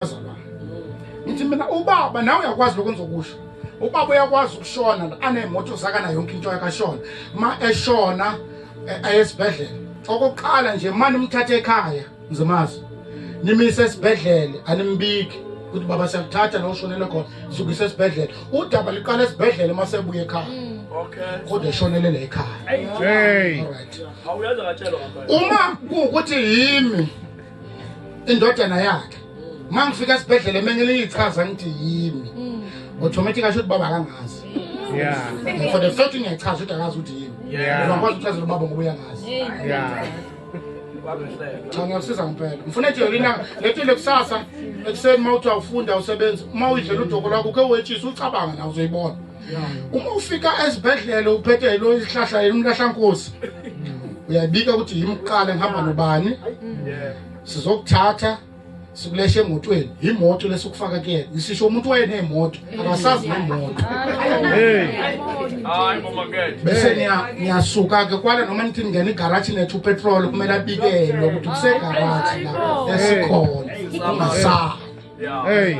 bazalwane ngithi mina ubaba nawe uyakwazi lokho engizokusho ubaba uyakwazi ukushona anemoto zakana yonke into yakashona ma eshona eh, ayesibhedlela okokuqala nje mani umthathe ekhaya ngizomazi nimise esibhedlela animbiki ukuthi baba siyakuthatha la ushonele khona sukise esibhedlela udaba liqala esibhedlela uma sebuye ekhaya mm. kodwa eshonele la ekhaya uma kuwukuthi yimi indodana yakhe mangifika esibhedlela emenye liyichaza ngithi yimi automatic asho ukuthi baba akangazi yeah and for the fact ngiyachaza ukuthi akazi ukuthi yimi yeah ngikwazi ukuchazela ubaba ngoba uyangazi yeah cha ngiyasiza ngempela ngifuna nje yolina letile kusasa ekuseni uma uthi awufunda usebenzi uma uyidlela udoko lwakho uke wetshisa ucabanga na uzoyibona uma ufika esibhedlela uphethe yilo isihlahla elimlahlankosi uyabika ukuthi yimqala ngihamba nobani sizokuthatha sikuleshe emotweni yimoto lesukufaka kuyena ngisisho umuntu wayenemoto akasazi nemoto bese ngiyasuka-ke kwala noma nithi ningena igaraji nethu upetrol kumele abikelwe ukuthi kusegaraji la esikhona ungasazi hey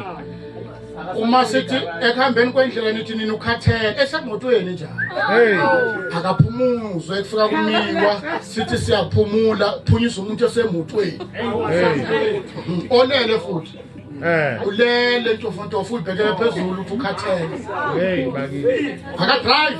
uma sithi ekuhambeni kwendlela nithi nina ukhathele esemotweni njalo hey akaphumuzwe ekufika kumiwa sithi siyaphumula phunyisa umuntu esemotweni hey onele futhi Eh. Ulele ntofontofo ubhekele phezulu uthi ukhathele. Hey bakithi. Aka drive.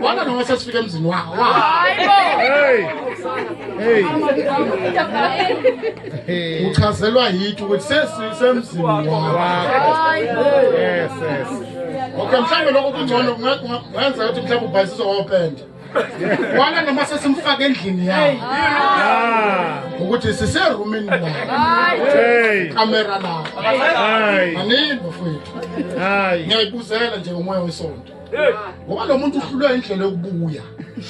Wala noma sesifika emzini wawo. Hey. Hey. Hey. Uchazelwa yithi ukuthi sesisemzini wawo. Yes, yes. Okay, mhlawumbe lokho kungcono kungenza ukuthi mhlawumbe ubhayisizwe wopenda. Wala noma sesimfaka endlini yawo. Ah. Ukuthi sise roomini lawo. Hey. Camera lawo. Hayi. Anini bafowethu. Hayi. Ngiyayibuzela nje umoya wesonto. ngoba lo muntu uhlulwe indlela yokubuya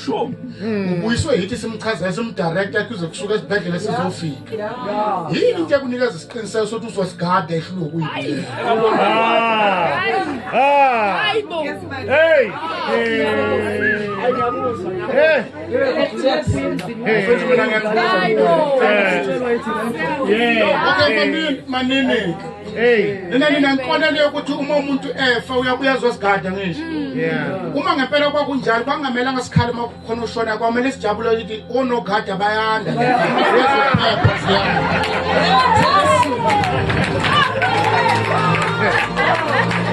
sure hmm. ubuyiswe yithi simchazela simdirecta kuze kusuke esibhedlela sizofika yini into ekunikeza isiqiniseko sokuthi uzosigada ehlulwe ukuyibuyela manini ninenkolelo yokuthi uma umuntu efa uyabuya zosigada ngisho mm. uma ngempela kwakunjalo kwangamelanga sikhale uma kukhona ushona kwamele sijabule ukuthi onogada bayanda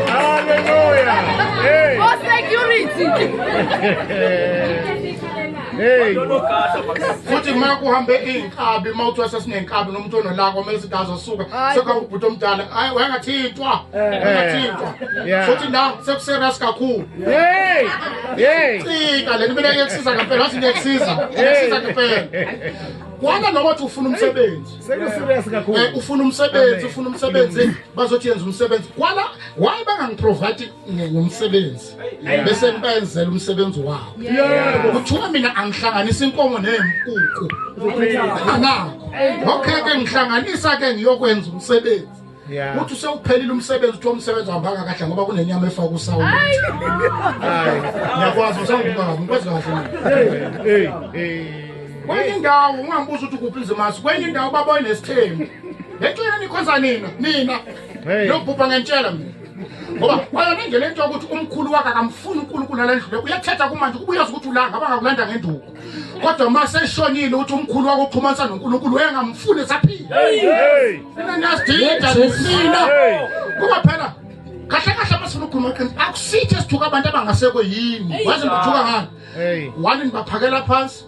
Hallelujah. Hey. Oh, security. hey. Futhi makuhambe kabi uma uthi wasesinenkabi nomuntu onolaka omele sithi azosuka sekabubhuti omdala hayi wayengathintwa wayengathintwa futhi la sekuserious kakhulu hey hey cika le mina ngekusiza ngempela wathi ngekusiza ngekusiza ngempela kwana noma uthi ufuna umsebenzi sekuserious kakhulu ufuna umsebenzi ufuna umsebenzi bazothi yenza umsebenzi kwana why bangangiprovide ngomsebenzi bese ngibenzela umsebenzi wabo kuthiwa mina angihlanganisa inkomo nempuku anakho okay ke ngihlanganisa ke ngiyokwenza umsebenzi uthi usewuphelile umsebenzi uthiwa umsebenzi wambanga kahle ngoba kunenyama efaka usawu ngiyakwazi usangibanga ngikwazi kahle kwenye indawo ungambuza ukuthi kuphi izimasi kwenye indawo baboye nesithembu ngecela nikhonza nina nina nokubhubha ngentshela mina ngoba wayona nje le nto yokuthi umkhulu wakhe akamfuni unkulunkulu alendlule uyathetha kumanje kuba uyazi ukuthi ulanga abangakulanda ngenduku kodwa uma seshonile ukuthi umkhulu wakho uxhumanisa nonkulunkulu wayengamfuni esaphila mina niyasidida nina kuba phela kahle kahle uma sifuna ukukhuluma qiniso akusithi esithuka abantu abangasekwe yini waze ngithuka ngani wani nibaphakela phansi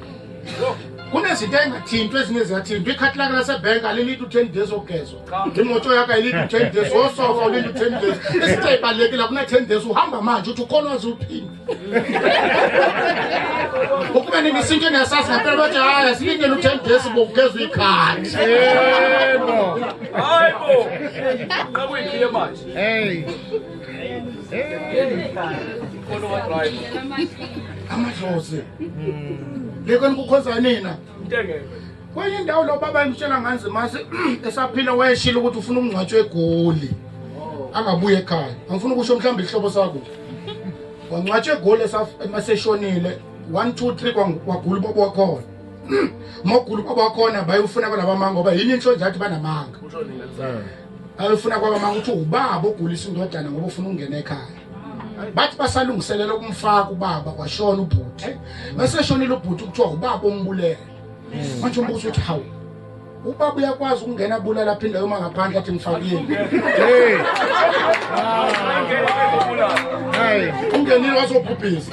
kunezinto engathintwa ezinye ziyathintwa ikhathi lake lasebhenki alilidi u-ten days ogezwa imoto yakho ayilidi u-ten days osofa ulindi u-ten days isinto eyibalulekile kune-ten days uhamba manje uthi ukhona wazi uphinde ukube nini isinto engiyasazi ngempela bathi hayi asilindele u-ten days bokugezwa ikhadi hayibo nqabuyikhiye manje amadlozi ngeke nikukhonza nina kwenye indawo lo baba emtshela nganzi mase esaphila wayeshila ukuthi ufuna ukungcwatshwa egoli angabuye ekhaya angifuna ukusho mhlawumbe isihlobo sakho wangcwatshwa egoli emaseshonile one two three kwagula ubaba wakhona mogula ubaba wakhona bayewufuna kwalabamanga ngoba yini inhlo nje athi banamanga ayefuna kwabamanga ukuthi ubaba ogulisa indodana ngoba ufuna ukungena ekhaya bathi basalungiselela ukumfaka ubaba kwashona ubhuti meseshonile ubhuti kuthiwa ubaba ombulele hmm. manje umbuzo uthi hawu ubaba uyakwazi ukungena bulala aphinde yoma ngaphandle athi ngifakile ungenile wazobhubhisa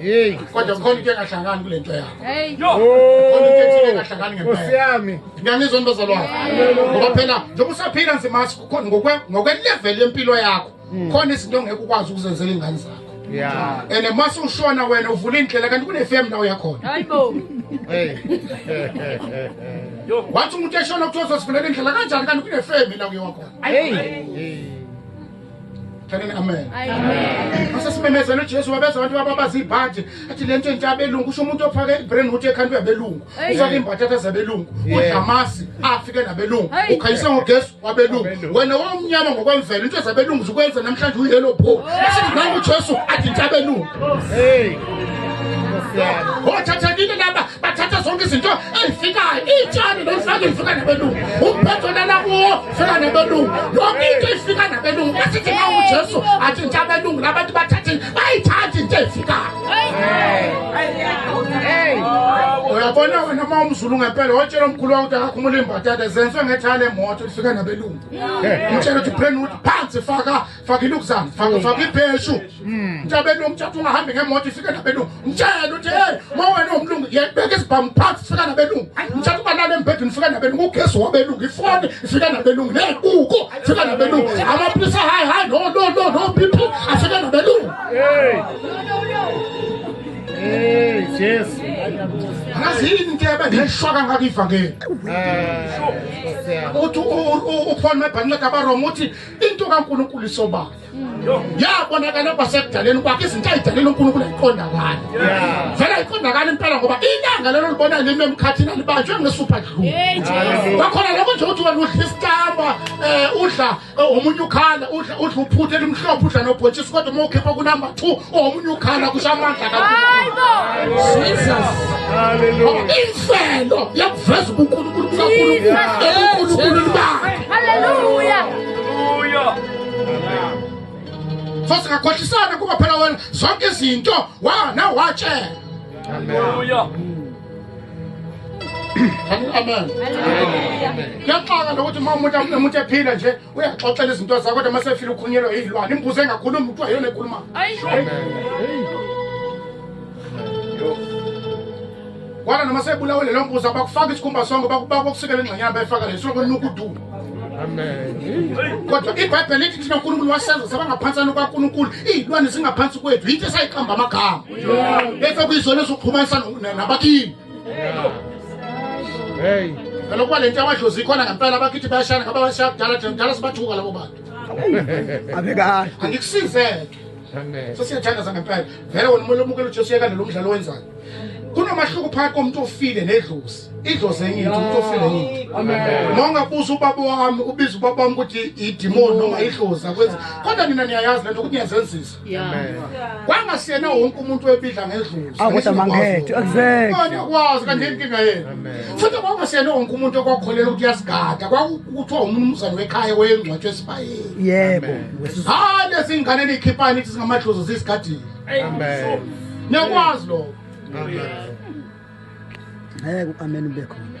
Hey, kodwa kukhona into engahlangani kule nto yakho. Hey. Yo. Kukhona into ethile engahlangani ngempela. Osiyami. Ngiyangizwa nibazalwane. Ngoba phela njengoba usaphila nje mathi kukhona ngokwe ngokwe level yempilo yakho. Hmm. Khona izinto ongeke ukwazi ukuzenzela ingane zakho. Yeah. And mase ushona wena uvula indlela kanti kune FM la uyakhona. Hayibo. Hey. Yo, wathi umuntu eshona kuthiwa sosifunela indlela kanjani kanti kune FM la uyakhona. Hey. Thanini amen. Amen. Basesimemezela uJesu wabeza abantu ababazi ibhathi athi lento entsha abelungu kusho umuntu ophake ibrain hood ekhanda yabelungu. Ufake imbatha athaza abelungu. Udlamasi afike nabelungu. Ukhayisa ngogesi wabelungu. Wena wawumnyama ngokwemvelo into ezabelungu zikwenza namhlanje uyi yellow bow. Asingangu uJesu athi intabelungu. Hey. Ngothathekile laba bathatha zonke izinto ezifikayo itshani lolifake lifika nabelungu umphetho lala kuwo fika nabelungu yonke into ifika nabelungu besithi ma ujesu athi nje abelungu labantu bathathe bayithathe into efikayo uyabona wena uma umzulu ngempela watshela omkhulu wakho ukuthi akakhumula imbatata zenzwe ngethale emoto lifika nabelungu umtshela ukuthi phenudi phansi faka faka ilukuzana faka faka ibheshu hmm. ntabeni umtshatha ungahambi ngemoto ifike nabelungu mtshele uthi hey ma wena umlungu yebeka isibhamu phansi fika nabelungu mtshatha ubalala embhedeni fika nabelungu ugesi wabelungu ifoni ifika nabelungu ney'kuko fika nabelungu amapilisa hayi hayi no no no no bp afika nabelungu Jesu angazi yini into ebengeshwa kangaka ivangeli eh, uthi uphone mebhanqeda abaroma uthi into kaNkulunkulu isobala yabonakala kwasekudaleni kwakhe izinto ayidalele uNkulunkulu ayiqonda kwani vele ayiqondakala impela ngoba ilanga lelo libona lime emkhathini alibanjwe ngesupha dlulu kwakhona lokho nje ukuthi wena udla isitamba um eh, udla eh, omunye ukhala udla uphuthe elimhlophe udla nobhotshisi kodwa uma ukhipha kunumber two omunye ukhala kusho amandla kaimfelo yakuveza ubunkulunkulu bukankulunkulu so singakhohlisana kuba phela wena zonke izinto wana watshela amen kuyaxaka lokuthi uma umuntu ephila nje uyaxoxela izinto zakho kodwa masefile ukhunyelwe yiyilwane imbuzi engakhulumi kuthiwa yona ekhuluma kwala noma sebulawe lelo mbuzi abakufaka isikhumba sonke bakusikela ingxenyana bayifaka leso konuka udumo kodwa ibhayibheli lithi thina unkulunkulu wasenza sabangaphansana kwankulunkulu iyilwane zingaphansi kwethu yinto esayiqamba amagama bese kuyizona ezoxhumanisa nabakini Hey. Phela kuba lento yamadlozi ikhona ngempela abakithi bayashana ngaba bashaya kudala thina kudala sibathuka labo bantu. Abekahle. Angikusizeke. Amen. Sesiyathandaza ngempela. Vele wena umuntu omukela uJesu yeka lo mdlalo wenzayo. Kunomahluko phakathi komuntu ofile nedlozi. Idlozi enye into umuntu ofile enye into. Amen. Noma ungabuza ubaba wami ubiza ubaba wami ukuthi idimoni noma idlozi akwenzi. Kodwa nina niyayazi lento ukuthi niyazenzisa. kwangasiyena wonke umuntu webidla ngedluzikwazi kanje inkinga yena futhi kwangasiyena wonke umuntu okwakholelwa ukuthi uyasigada kwakuthiwa umnumzane wekhaya weyengcwatsho esibayeni yebo hayi lezi ngane niyikhiphani nithi singamadlozi zisigadile niyakwazi lokho ngeke u-ameni ube khona